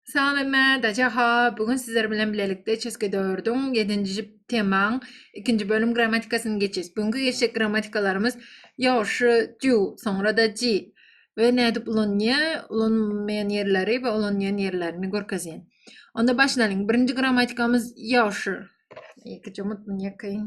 Salam emme, daja ha, bu gün sizler bilen bilelikde çeske dördüň, ýedinji temaň, ikinji bölüm grammatikasyny geçýäs. Bugünki geçjek grammatikalarymyz ýowşy, ju, soňra-da ji we nädip ulanýar, ulanmaýan ýerleri we ulanýan ýerlerini görkezýän. Onda başlalyň. Birinji grammatikamyz ýowşy. Ýekeje mutmyň ýakaýyn.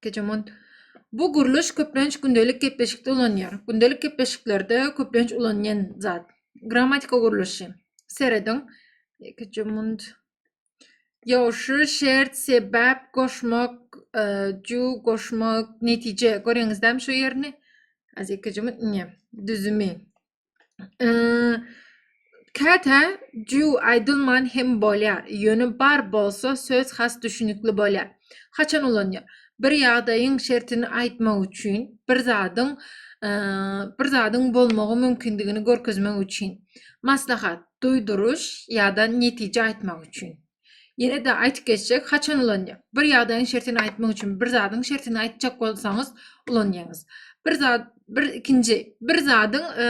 Gejemont Bu gurluş köplenç gündelik gepleşikde ulanýar. Gündelik gepleşiklerde köplenç ulanýan zat. Grammatika gurluşy. Serediň. Gejemont Ýowşy, şert, sebäp, goşmak, e, ju, goşmak, netije. Görýäňizdämi şu ýerini? Azekejemont Ne? Düzümi. Käte jüw aýdylman hem bolýar, ýöne bar bolsa söz has düşünikli bolýar. Haçan ulanýar? Bir ýagdaýyň şertini aýtmak üçin, bir zadyň bir zadyň bolmagy mümkindigini görkezmek üçin. Maslahat, duýduryş ýa-da netije aýtmak üçin. Ýene-de aýdyp geçjek, haçan ulanýar? Bir ýagdaýyň şertini aýtmak üçin bir zadyň şertini aýtjak bolsaňyz ulanýaňyz. Bir zat, bir ikinji, bir zadyň e,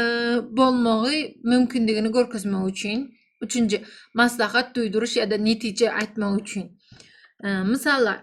bolmagy mümkindigini görkezmek üçin, üçünji, maslahat, duýduryş ýa-da netije aýtmak üçin. E, Mysallar,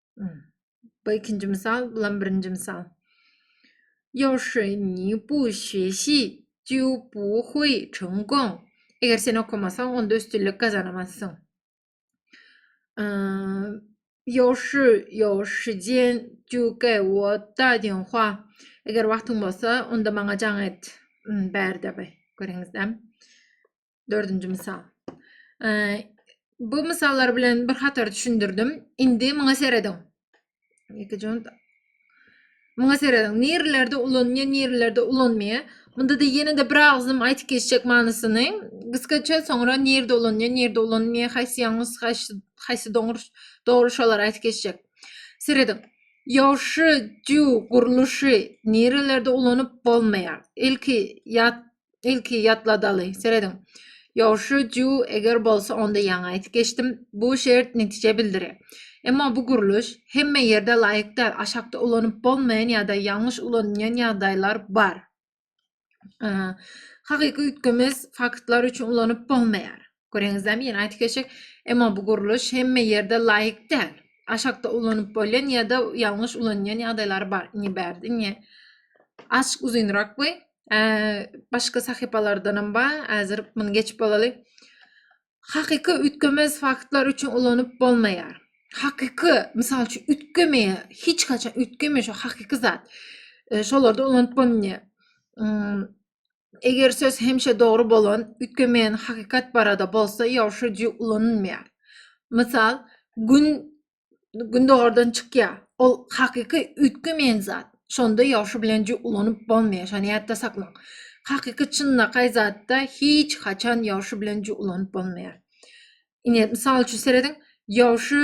Bu ikinji misal, bulam birinji misal. Ýa şeýni bu şeşi, ju bu hui çun gong. Eger sen okamasaň, onda üstünlik gazanamazsyň. Ýa şu, ýa şu diýen ju ge wo da diýen hua. Eger wagtyň bolsa, onda maňa jaň et. Bärde bi. Görüňizde. Dördünji mysal. Bu mysallar bilen bir hatar düşündirdim. Indi muňa serediň. Ýeke jon Muňa serediň. Nirlerde ulanýar, nirlerde ulanmaýar. Munda da ýene-de bir agzym aýdyp geçjek manysyny. Gysgaça soňra nirde ulanýar, nirde ulanmaýar, haýsy ýalňyş, haýsy haýsy dogry dogry şolar aýdyp geçjek. Serediň. Ýowşy, jüw, gurluşy nirlerde ulanyp bolmaýar. Ilki ýat ilki ýatladaly serediň ýowşy ju eger bolsa onda ýaňy aýdyp geçdim bu şert netije bildire emma bu gurluş hemme ýerde laýyk däl aşakda ulanyp bolmaýan ýa-da ýalňyş ulanylýan ýagdaýlar bar hakyky üýtgemez faktlar üçin ulanyp bolmaýar Göreňizlämi ýene aýtyp geçjek. Emma bu gurluş hemme ýerde laýyk däl. Aşakda ulanyp bolýan ýa-da ýalňyş ulanýan ýagdaýlary bar. Indi bärde indi azçyk uzynrak bu. Başga sahypalardan hem bar. Häzir muny geçip bolaly. Hakyky üýtgemez faktlar üçin ulanyp bolmaýar. Hakyky, mysal üçin, üýtgemeýär. Hiç haçan üýtgemeýär şu hakyky zat. Şolarda ulanyp bolmaýar. Eger söz hemişe dogry bolan, üýtgemeýän hakykat barada bolsa, ýowşa ji ulanylmaýar. Mysal, Gün gündogardan çykýar. Ol hakyky üýtgemeýän zat. Şonda ýowşa bilen ji ulanyp bolmaýar. Şony ýatda saklaň. Hakyky çynlakaý zatda hiç haçan ýowşa bilen ji ulanyp bolmaýar. Ine, mysal üçin serediň, Ýowşy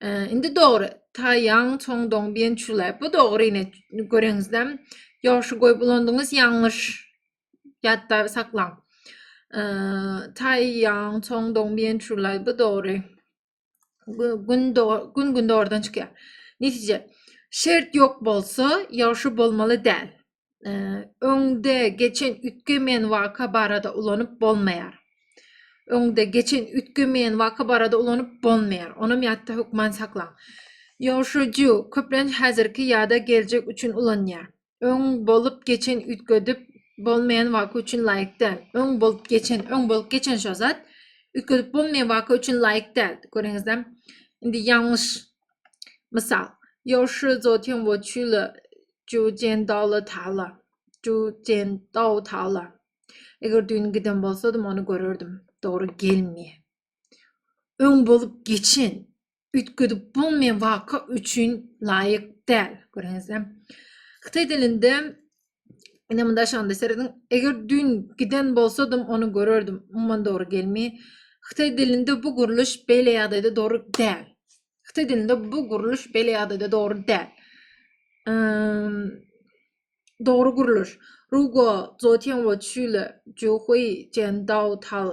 Ee, indi dogry. Taýaň çoň doň biýen çula. Bu dogry ine göreňizde. Ýoşy goýup ulandyňyz ýalňyş. Ýatda saklaň. Ee, Taýaň çoň doň biýen çula. Bu dogry. Gün gün gün dogrudan çykýar. Netije. Şert ýok bolsa, ýoşy bolmaly däl. öňde geçen üýtgemeýän waka barada ulanyp bolmaýar. Öňde geçen üýtgemeýän waka barada ulanyp bolmaýar. Onam ýatda hökman saklaň. Ýoşuju köplenç häzirki ýa-da geljek üçin ulanýar. Öň bolup geçen üýtgedip bolmaýan waka üçin laýyk däl. Öň bolup geçen, öň bolup geçen şo zat üýtgedip bolmaýan waka üçin laýyk däl. Görüňizde, indi ýalňyş Mysal, Ýoşy Zotin we Çüle Jujen Dawla Tala. Jujen Daw Tala. Eger düýn giden bolsadym, ony görerdim. Dogry gelmeýär. Öň bolup geçen, üýtgedip bolmaýan waka üçin laýyk däl. Görýäňizmi? Hytaý dilinde Ine munda şonda serediň. Eger dün giden bolsadym, onu görerdim. Umuman dogry gelmi? Hytaý dilinde bu gurluş beýle ýagdaýda dogry däl. Hytaý dilinde bu gurluş beýle ýagdaýda dogry däl. Ehm, dogry gurluş. Rugo zotian wo çüle juhui jen dao tal.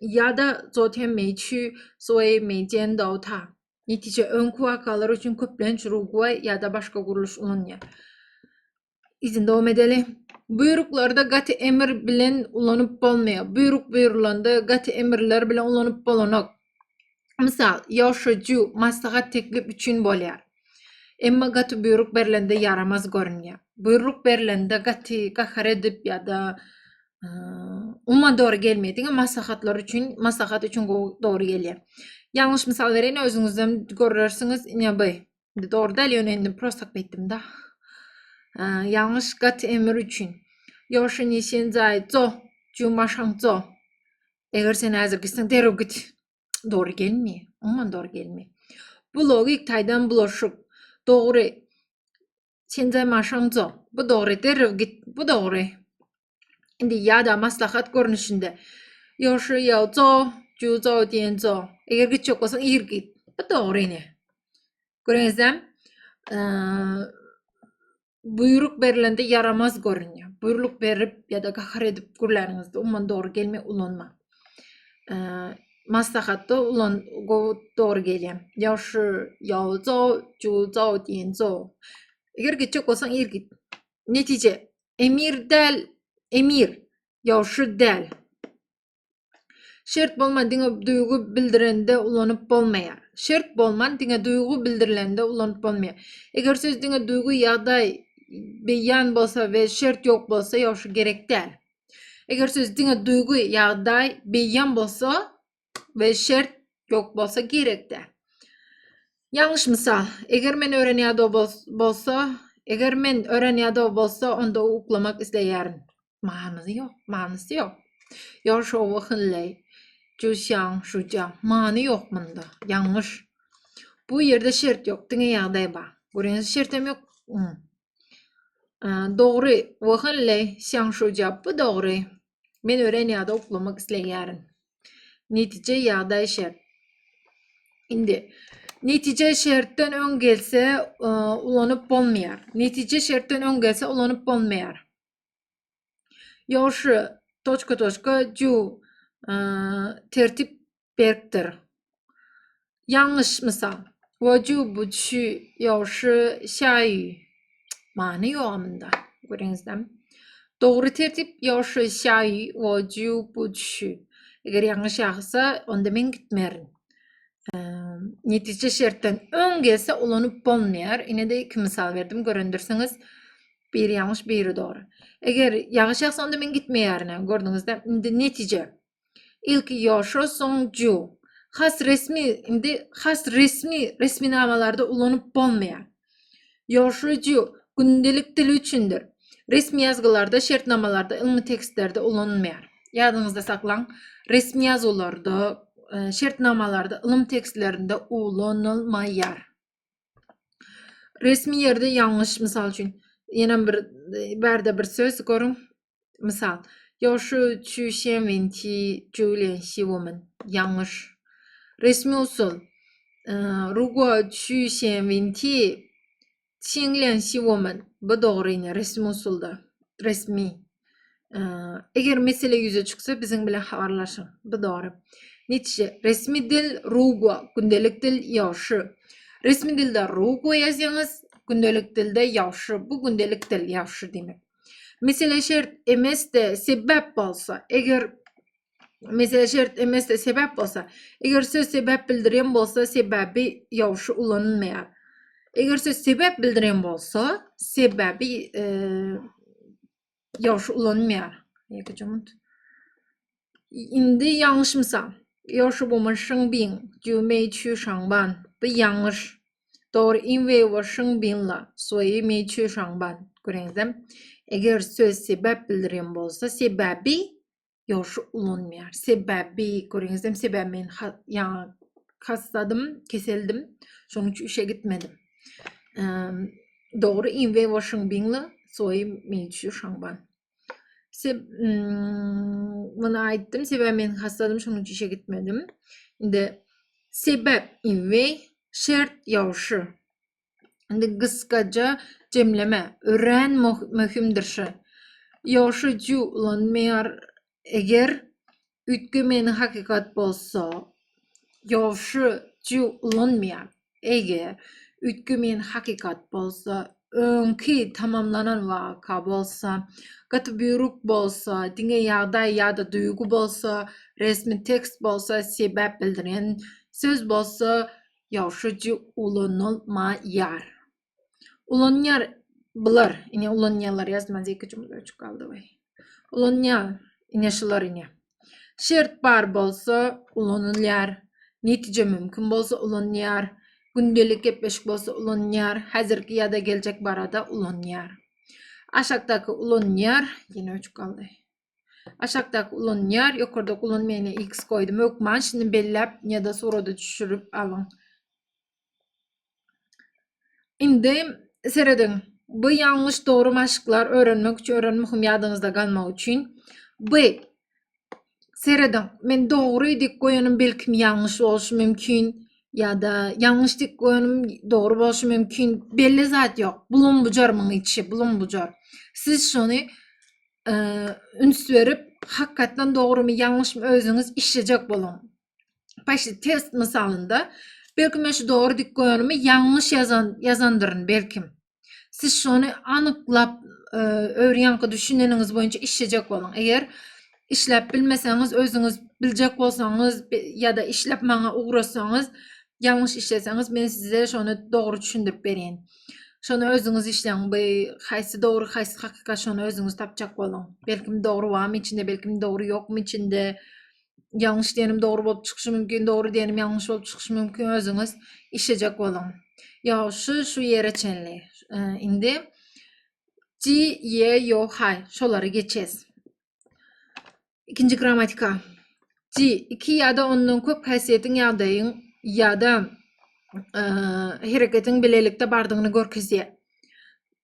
Ýa-da zotian mei çü sui mei jen dao ta. Netije, öňki wakalar üçin köplenç Rugway ýa-da başga gurluş ulanýar. Izin dowam edeli. Buýruklarda gaty emir bilen ulanyp bolmaýar. Buýruk buýrulanda gaty emirler bilen ulanyp bolanok. Mysal, Ýoşuju, maslahat teklip üçin bolýar. Emma gaty buýruk berlende ýaramaz görünýär. Buýruk berlende gaty gahar edip ýa-da umuman dogry gelmeýär. Diňe maslahatlar üçin, maslahat üçin dogry gelýär. Ýalňyş mysal bereýin, özüňizden görersiňiz. Ine bu. Indi dogry däl, ýöne indi prosta aýtdym-da. Ýalňyş gat emir üçin. Ýoşun işin zaý, zo, juma şaň, zo. Eger sen häzir gitseň, derrew git. Dogry gelmeýär. Umuman dogry gelmeýär. Bu logik taýdan bulaşyk. Dogry Sende maşyn zor. Bu dogry. Derrew git. Bu dogry. Indi ýa-da maslahat görnüşinde. Ýoşy ýa zo, ju zo diýen zo. Eger gitjek bolsaň ir git. Bu dogry ine. Göreňizem, buýruk berilende ýaramaz görünýär. Buýruk berip ýa-da gahar edip gürläniňizde umman dogry gelmeýär, ulanmaň. maslahatda ulan gowy dogry gelýär. Ýagşy, ýaw, jaw, jul, jaw diýen jaw. Eger gitjek bolsaň ir git. Netije. Emir däl, emir. Ýagşy däl. Şert bolman diňe duýgy bildirende ulanyp bolmaýar. Şert bolman diňe duýgy bildirilende ulanyp bolmaýar. Eger söz diňe duýgy ýagdaý beýan bolsa we şert ýok bolsa ýagşy gerek däl. Eger söz diňe duýgy, ýagdaý, beýan bolsa we şert ýok bolsa gerekde. Ýalňyş mysal. Eger men ören ýada bolsa, eger men ören ýada bolsa, onda uklamak isleýärin. Manysy ýok, manysy ýok. Ýol şowy hynleý. Juşýan, şuja. Many ýok munda. Ýalňyş. Bu ýerde şert ýok, diňe ýagdaý bar. Görýäňiz, şertem ýok. Dogry, Wahanle, şaň şu japy dogry. Men ören ýada uklamak isleýärin. Netije ýagdaý şert. Indi netije şertden öň gelse ulanyp bolmaýar. Netije şertden öň gelse ulanyp bolmaýar. Ýoşy, toçka toçka ju tertip berkdir. Ýalňyş mysal. Woju bu şu ýoşy şaý. Many ýok amynda. Görüňizde. Dogry tertip ýoşy şaý woju bu şu. Eger ýalňyş ýagsa, onda men gitmerin. netije şertden öň gelse ulanyp bolmaýar. Ine-de iki mysal berdim, görendirsiňiz. Biri ýalňyş, biri dogry. Eger ýagyş ýagsa, onda men gitmeýärin-ä. Gördüňizde? Indi netije. Ilki ýoşo, soň ju. Has resmi, indi has resmi resminamalarda ulanyp bolmaýar. Ýoşo ju gündelik dil üçindir. Resmi ýazgylarda, şertnamalarda, ylmy tekstlerde ulanylmaýar. Ýadyňyzda saklaň, resmi ýazuwlarda, şertnamalarda, ylym tekstlerinde ulanylmaýar. Resmi ýerde ýalňyş, mysal üçin, ýene bir bärde bir söz görüň. Mysal, Ýa şu çü şen wen ti ju lian xi wo men. Ýalňyş. Resmi usul. Ru guo çü şen wen ti çiň lian xi wo men. Bu dogry ýene resmi usulda. Resmi. Eger mesele ýüze çyksa, biziň bilen habarlaşyň. Bu dogry. Netije, resmi dil Rugo, gündelik dil Ýawşy. Resmi dilde Rugo ýazýaňyz, gündelik dilde Ýawşy. Bu gündelik dil Ýawşy diýmek. Mesele şert emesde sebäp bolsa, eger Mesele şert emesde sebäp bolsa, eger söz sebäp bildirýän bolsa, sebäbi ýowşy ulanylmaýar. Eger söz sebäp bildirýän bolsa, sebäbi ýowşy ulanylmaýar. Ýeke jumut. Indi ýalňyş mysal. Ýowşy bu mun şyň biň, ju meý çü şaňban. Bu ýalňyş. Dogry in we wo şyň binla, suýi meý çü şaňban. Göreňizem. Eger söz sebäp bildirýän bolsa, sebäbi ýogşy ulanmaýar. Sebäbi, göreňizem sebäbi men ýaňy hassadym, keseldim. Şonuň üçin işe gitmedim. Dogry in we washing bingli soýum men üçin şamban. Seb muny aýtdym, sebäbi men hassadym, şonuň üçin işe gitmedim. Indi sebäp in we şert ýogşy. Indi gysgaja jemleme. Örän möhümdir şu. Ýoşy ju ulanmaýar. Eger üýtgemeginiň hakykat bolsa, ýoşy ju ulanmaýar. Eger üýtgemeginiň hakykat bolsa, öňki tamamlanan waka bolsa, gaty buýruk bolsa, diňe ýagdaý ýa-da duýgy bolsa, resmi tekst bolsa, sebäp bildirýän söz bolsa, Ýaşajy ulanylmaýar. Ulanýar bular. Ine ulanýarlar ýazmaz iki jümle üçüp galdy we. Ulanýar. Ine şular ine. Şert bar bolsa ulanylýar. Netije mümkin bolsa ulanýar. Gündelik gepleşik bolsa ulanýar. Häzirki ýa-da geljek barada ulanýar. Aşakdaky ulanýar. Ýene üçüp galdy. Aşakdaky ulanýar, ýokardaky ulanmaýana X goýdum. Hökman şuny belläp ýa-da surata düşürip alyň. Indi serediň. Bu ýalňyş dogry maşklar öwrenmek üçin örän möhüm ýadyňyzda galmagy üçin. B. Serediň. Men dogry dik goýanym belki ýalňyş bolşy mümkin ýa-da ýalňyş dik goýanym dogry bolşy mümkin. Belli zat ýok. Bulum bujar muň içi, bulum bujar. Siz şony üns berip hakykatdan dogrymy ýalňyşmy özüňiz işlejek boluň. Başy test misalynda belki men şu dogry dik görenimi ýalňyş ýazan ýazandyryn belki. Siz şony anyklap e, öwrenýänki düşüneniňiz boýunça işlejek boluň. Eger işläp bilmeseňiz özüňiz biljek bolsaňyz ýa-da işläp maňa ugratsaňyz ýalňyş işleseňiz men size şony dogry düşündirip berýin. Şony özüňiz işleň. Bu haýsy dogry, haýsy hakykat şony özüňiz tapjak boluň. Belkim dogry barmy içinde, belkim dogry ýokmy içinde. Ýalňyş diýenim dogry bolup çykyşy mümkin, dogry diýenim ýalňyş bolup çykyşy mümkin. Özüňiz işlejek boluň. Ýagşy şu ýere çenli. Indi Ji, Ýe, Ýo, Haý şolary geçes. Ikinji grammatika. Ci, iki ýa-da ondan köp häsiýetiň ýagdaýyň ýa-da e, hereketiň bilelikde bardygyny görkezýär.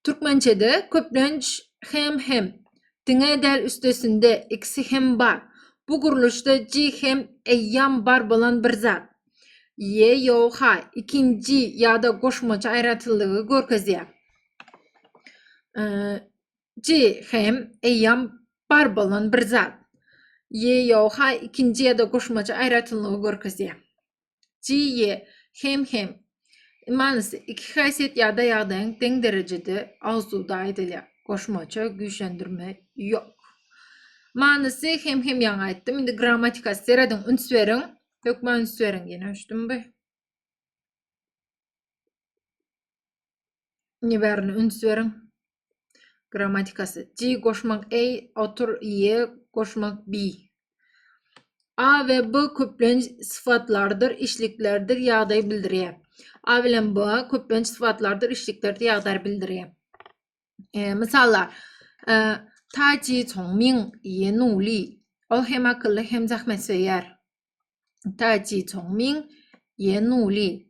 Türkmençede köplenç hem hem diňe däl üstesinde ikisi hem bar. Bu gurluşda ci hem eýýam bar bolan bir zat. Ýe, ýok, ha, ikinji ýa-da goşmaça aýratynlygy görkezýär. E, Nji hem eýýam bar bolan bir zat. Ýe, ýo, ha ikinji ýa-da goşmaça aýratynlygy görkezýär. Ji, ýe, hem, hem. Manysy, iki häsiýet ýa-da ýagdaýyň deň derejede awzuwda aýdylýar. Goşmaça güýçlendirme ýok. Manysy, hem, hem ýaňy aýtdym. Indi grammatikasy serediň, üns beriň. Hökmä üns beriň. Ýene öçdüm bi. Nji bärine üns beriň. Grammatikasy. J goşmak A, otur Y goşmak B. A we B köplenç syfatlardyr, işliklerdir, ýagdaý bildirýär. A bilen B köplenç syfatlardyr, işliklerdir, ýagdaý bildirýär. E, mysallar. E, Ta ji çong ming ye nuli. Ol hem akylly hem zähmet söýer. Taji Chongming, Ye Nuli.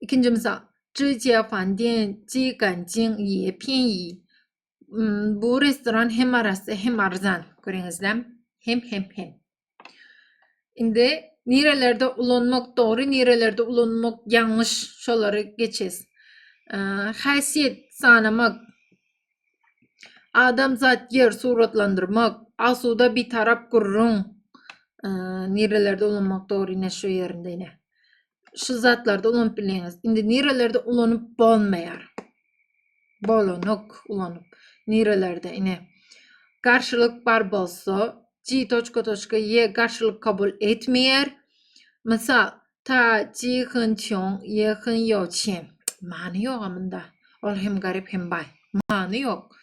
Ikinji mysal. Zhi Jiafan Dian Ji Ganjing Ye Pianyi. Bu restoran hem arassa hem arzan. Görüňizde. Hem hem hem. Indi nirelerde ulanmak dogry, nirelerde ulanmak ýalňyş, şolary geçes. Häsiýet sanamak Adamzat ýer suratlandyrmak, asuda bitarap gürrüň, nirelerde ulanmak dogry ine şu ýerinde ine. Şu zatlarda ulanyp bilýäňiz. Indi nirelerde ulanyp bolmaýar. Bolanok ulanyp. Nirelerde ine. Garşylyk bar bolsa, G toçka toçka Y garşylyk kabul etmeýär. Mysal, Ta ji hyn çion ye hyn yo çien. Many ýoga munda. Ol hem garyp hem baý. Many ýok.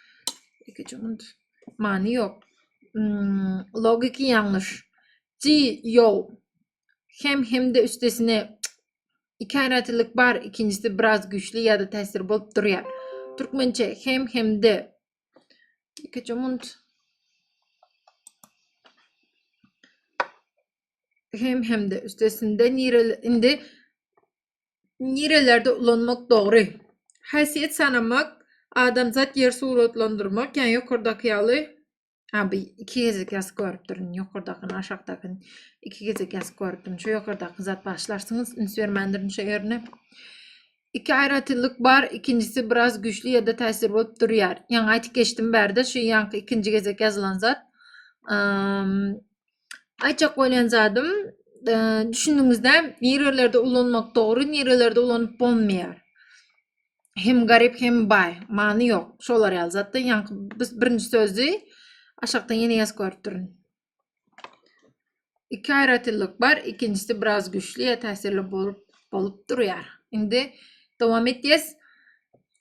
Iki cümünt. Many ýok. Hmm, logiki ýalňyş. Ji yo hem hemde üstesine iki aratilik bar, ikinjisi biraz güýçli ýa-da täsir bolup durýar. Türkmençe hem hemde iki cümünt. hem hem-de üstesinde nirel indi nirelerde ulanmak dogry? Häsiýet sanamak, adamzat ýer suratlandyrmak, ýa ýokardaky ýaly Ha, bu iki gezek ýazyp görüpdirin, ýokardakyny, aşakdakyny iki gezek ýazyp görüpdim. Şu ýokardaky zat başlarsyňyz, üns bermändirin şu ýerine. Iki aýratynlyk bar, ikinjisi biraz güýçli ýa-da täsir bolup durýar. Ýaňy aýdyp geçdim bärde, şu ýaňky ikinji gezek ýazylan zat Aýtjak bolýan zadym, e, düşündiňizde nirelerde ulanmak dogry, nirelerde ulanyp bolmaýar. Hem garyp, hem baý, many ýok. Şolar ýaly zatda, ýaňky biz birinji sözi aşakdan ýene ýazyp görüp durun. Iki aýratynlyk bar, ikinjisi biraz güýçli ýa täsirli bolup bolup durýar. Indi dowam etýäs.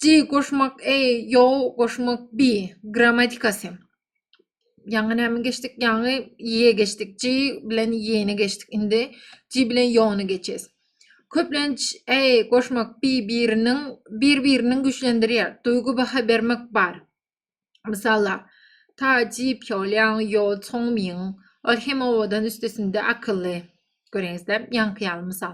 G goşmak e, yo goşmak bi grammatikasy. Ýaňy näme geçdik? Ýaňy ýe geçdik. J bilen ýeni geçdik. Indi J bilen ýony geçes. Köplenç e goşmak bir-biriniň bir-biriniň güýçlendirýär. Duýgy baha bermek bar. Mysala, ta ji pýolýaň ýo çoňmyň. Ol hem owadan üstesinde akylly. Görýäňizde, ýaňky ýaly mysal.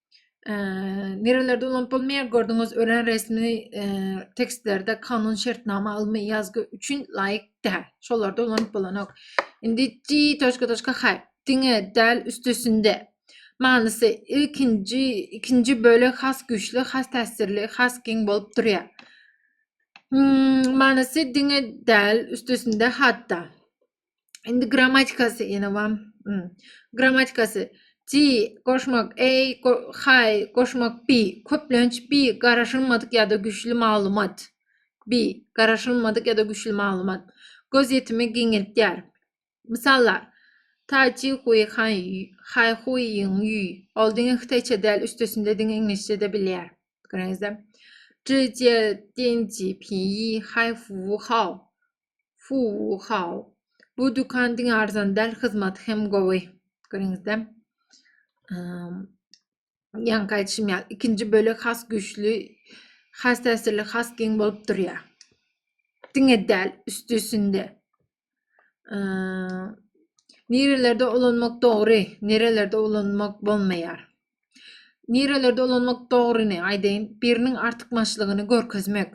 Nerelerde ulanyp bolmaýar gördüňiz ören resmi tekstlerde kanun şertnama ylmy ýazgy üçin laýyk däl. Şolarda ulanyp bolanok. Indi ti toşka toşka hay. Diňe däl üstesinde. Manysy ilkinji ikinji bölek has güýçli, has täsirli, has giň bolup durýar. Hmm, manysy diňe däl üstesinde hatda. Indi grammatikasy ýene wam. Hmm. Grammatikasy G goşmak A go hay goşmak B köplenç B garaşylmadyk ýa-da güýçli maglumat. B garaşylmadyk ýa-da güýçli maglumat. Göz ýetimi giňeltýär. Mysallar. Ta ji hui han hay hui ýiň ýi. Ol diňe hytaýça däl, üstesinde diňe iňlisçe-de bilýär. Görüňizde. Ji jie dian ji pi yi hay fu hao. Fuwu how. Bu dükan diňe arzan däl, hyzmaty hem gowy. Görüňizde. Ýaňky aýdyşym ýaly, ikinji bölek has güýçli, has täsirli, has giň bolup durýar. Diňe däl, üstesinde. Nirelerde ulanmak dogry, nirelerde ulanmak bolmaýar. Nirelerde ulanmak dogryny aýdaýyn, biriniň artykmaçlygyny görkezmek.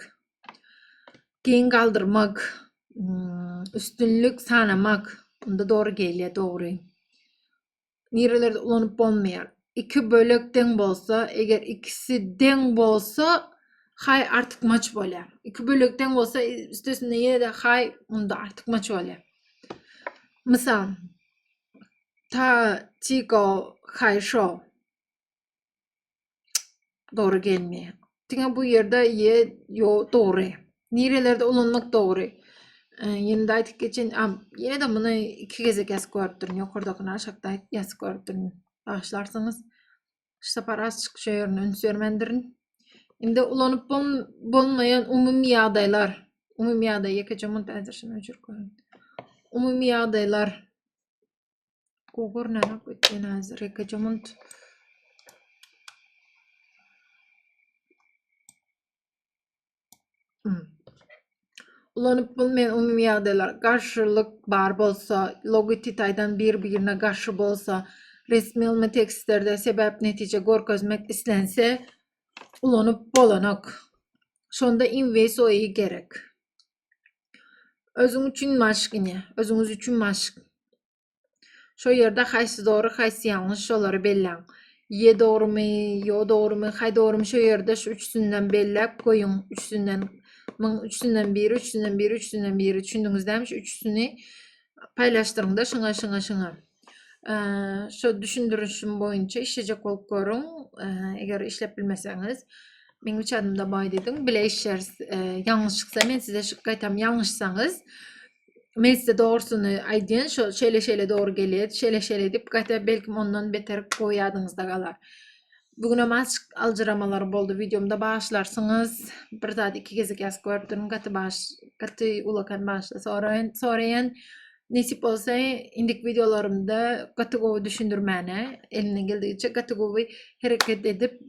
Geň galdyrmak, üstünlik sanamak. Onda dogry gelýär, dogry. Nirelerde ulanyp bolmaýar. Iki bölek deň bolsa, eger ikisi deň bolsa, hay artykmaç bolýar. Iki bölek deň bolsa, üstesinde ýene-de hay onda artykmaç bolýar. Mysal, ta çiko hay şo. Dogry gelmeýär. Diňe bu ýerde ýe ýo dogry. Nirelerde ulanmak dogry. Ýene-de aýdyp geçen, ýene-de muny iki gezek ýazyp görüpdirin. Ýokardakyny aşakda ýazyp görüpdirin. Bagyşlarsyňyz. Şu sapar azçyk şu ýerine üns bermendirin. Indi ulanyp bolmaýan umumy ýagdaýlar. Umumy ýagdaý ýekeje munt äzir şunu öçürip goýaýyn. Umumy ýagdaýlar. Gugurnanak ütgenaz rekejumunt. Hmm. Ulanyp bul men umumy ýagdaýlar garşylyk bar bolsa, logotitaýdan bir-birine garşy bolsa, resmi ylmy tekstlerde sebäp netije görkezmek islense ulanyp bolanok. Şonda inwesoi gerek. Özüň üçin maşk ine. Özüňiz üçin maşk. Şo ýerde haýsy dogry, haýsy ýalňyş şolary belläň. Ýe dogrumy, ýo dogrumy, haý dogrumy şo ýerde şu üçüsinden belläp goýuň. Üçüsinden myň üçüsinden biri, üçüsinden biri, üçüsinden biri. Düşündiňizdämi şu üçüsini paýlaşdyryňda şyňa, şyňa, şyňa. Şu düşündirişim boýunça işlejek bolup görüň. Eger işlep bilmeseňiz, meň üç adymda baý diýdiň. Bile işleris. Ýalňyşyksa men size şu gaýtam ýalňyşsaňyz, men size dogrusyny aýdýan, şo şeýle-şeýle dogry gelýär, şeýle-şeýle diýip, gaýta belki ondan beter gowy ýadyňyzda galar. Bu günem azçyk aljyramalar boldy. Wideomda başlarsyňyz. Bir zat iki gezek ýazyp görüp durun. Gaty baş, gaty ulakan başda soraýan, soraýan. Nesip bolsa, indik wideolarymda gaty gowy düşündirmäne, elinden geldigiçe gaty gowy hereket edip,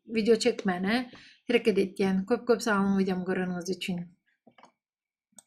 video çekmäne hereket etýän. Köp-köp sag boluň wideomy göreniňiz üçin.